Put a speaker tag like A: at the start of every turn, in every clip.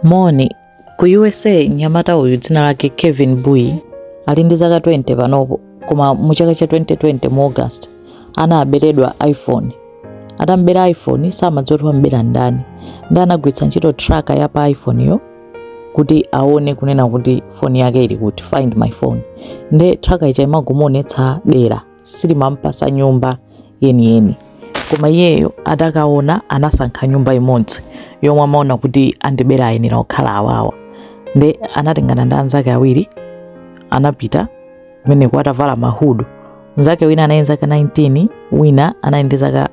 A: Moni. Ku USA mnyamata uyu dzina lake Kevin Bui ali ndi zaka 20 panopo koma mu chaka cha 2020 mu August anaberedwa iPhone. Atamubera iPhone samadziwa kuti wamubera ndani ndi anagwiritsa ntchito tracker ya pa iPhone yo kuti aone kunena kuti foni yake ili kuti find my phone nde tracker ija imangomuonetsa dera silimamupasa nyumba yeniyeni koma iyeyo atakaona anasankha nyumba imodzi yomwe amaona kuti andibera ayenera kukhala awawa nde anatengana ndi anzake awiri anapita kumeneko atavala mahudi mnzake wina anali ndi zaka 19 wina anali ndi zaka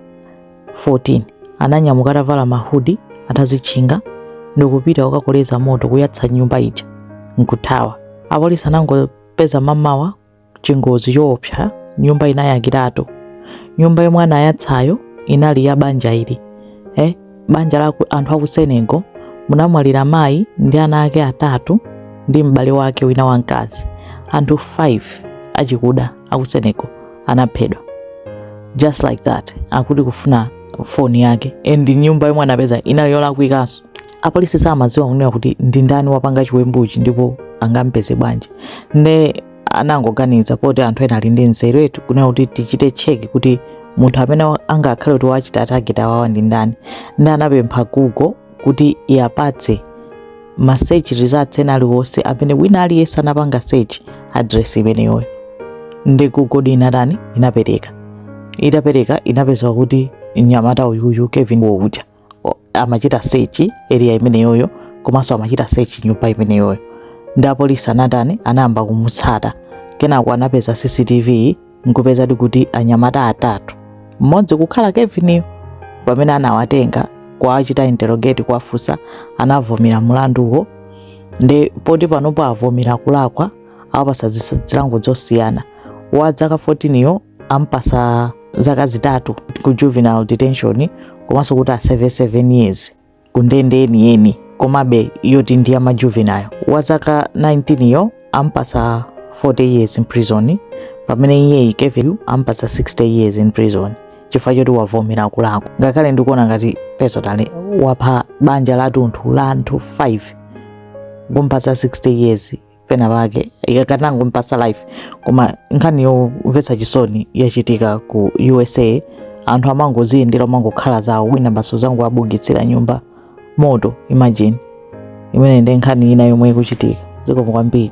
A: 14 ananyamuka atavala mahudi atazitchinga ndikupita kukakoleza moto kuyatsa nyumba ija nkuthawa apolisi anangopeza mamawa chingozi choopsa nyumba inayakiratu nyumba yomwe anayatsayo inali ya banja ili eh, banja la ku- anthu aku Senegal munamwalira mayi ndi ana ake atatu ndi m'bale wake wina wamkazi anthu 5 achikuda aku Senegal anaphedwa just like that akuti kufuna foni yake and nyumba yomwe anapeza inali yolakwikanso apolisi samadziwa kunena kuti ndi ndani wapanga chiwembuchi ndipo angampeze bwanji nde anangoganiza poti anthu ena ali ndi nzerutu kunena kuti tichite cheki kuti munthu amene wa- angakhale kuti wachita target awawa ndi ndani nde anapempha Google kuti iwapatse ma search results ena aliwonse amene wina aliyense anapanga search address imeneyoyo nde Google inatani inapereka itapereka inapeza kuti mnyamata uyuyu Kevin uja amachita search area imeneyoyo komanso amachita search nyumba imeneyoyo nde apolisi anatani anayamba kumutsata kenako anapeza CCTV nkupezadi kuti anyamata atatu mmodzi kukhala Kevin yo pamene anawatenga kuwachita interrogate kuwafunsa anavomera mulanduwo nde poti panopo avomera kulakwa awapasa zilango zosiyana wa zaka 14 yo ampasa zaka zitatu ku juvenile detention komanso kuti aseve 7 years ku ndende yeniyeni komabe yoti ndi ya ma juvenile wa zaka 19 yo ampasa 40 years in prison pamene iyeyu Kevin yu ampasa 60 years in prison chifukwa choti wavomera kulakwa ngakhale ndikuona ngati personally wapha banja latunthu la anthu 5 kumpasa 60 years pena pake akanangompasa life koma nkhani yomvetsa chisoni yachitika ku USA anthu amangoziyendera amangokhala zawo wina basi nkudzangowabugitsira nyumba moto imagine imene ndi nkhani ina yomwe ikuchitika zikomo kwambiri